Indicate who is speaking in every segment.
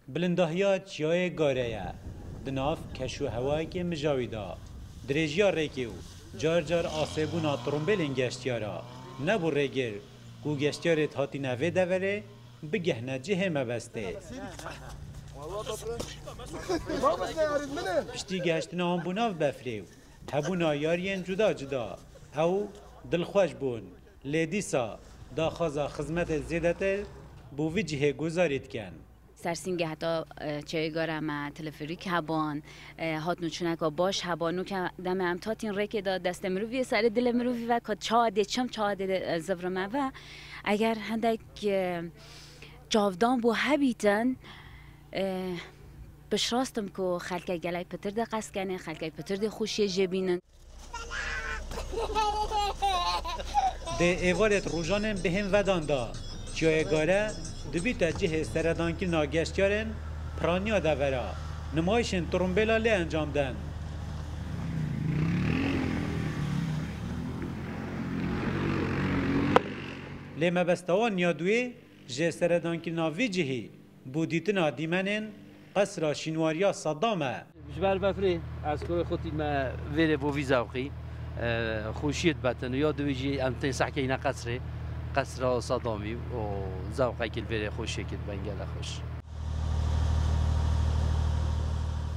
Speaker 1: Bilindahiya Çiyayê Gare ye di nav keş û hewayekî mijawî de. Dirêjiya rêkê û car car asêbûna tirombêlên geştyara nebû rêgir ku geştyarê dihatîne vê deverê bigihne cihê mebestê. Piştî gehiştina wan bû nav befrê û hebûna yariyên cuda cuda ew dilxweş bûn. Lê dîsa daxwaza xizmetên zêdetir bo vî cihê guzarî dikin. Sersîngê heta
Speaker 2: çeyê gara me telefrîk hebûn, hat û çûneka baş hebû. No ke demê em tatîn rêkê de destê mirovî yê serê dilê mirovî ve ka çawa dê çim, çawa dê zivrimive. Eger hindek çavdan bo hebîtin, piştrast im ku xelkek gelek pitir dê qeskenê, xelkek pitir dê xweşiyê jê bînin.
Speaker 1: Dê êvarê di rojanên bi hêm vedan de çiyayê Gare dibîte cihê seredangirina geştyarên piraniya devera nimayişên turumbêla lê encam den. Lê mebesta wan ya duê jê seredangirina vî cihî Bo dîtina dîmenên qesra şînwariya Saddam e. Ji ber befrê
Speaker 3: ez kurê xwe tîne vêrê bo vî zevqî, xweşiyê dibetin û ya di wî jî em tên sehkeyîne qesrê, qesra Saddamî û zevqekî li vêrê xweşiyekî diben gelek xweş.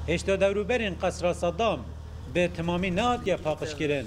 Speaker 1: Hêşta dewrûberên qesra Saddam bi timamî nehatiye paqijkirin.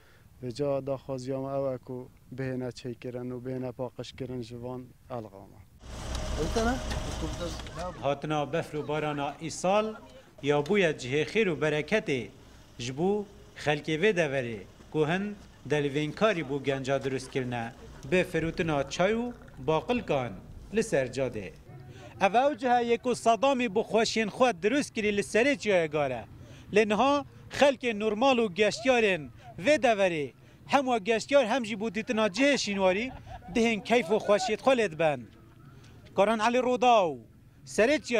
Speaker 4: Rica û daxwaziya me ew e ku bihêne çêkirin û bihêne paqijkirin ji van elga me.
Speaker 1: Hatina befr û barana îsal ya bûye cihê xêr û bereketê ji bo xelkê vê deverê ku hin delvînkarî bo genca dirust kirine bi firotina çay û baqilkan li ser cadê. Ev ew cihe ye ku Sadamî bi xweşiyên xwe dirust kirî li serê çiyayê Gare lê niha Xelkên normal û geştyarên vê deverê hem wek geştyar hem jî bo dîtina cihê şînwarî dihên keyf û xweşiyê xwe lê diben. Karan Elî Rodaw, serê çiyayê.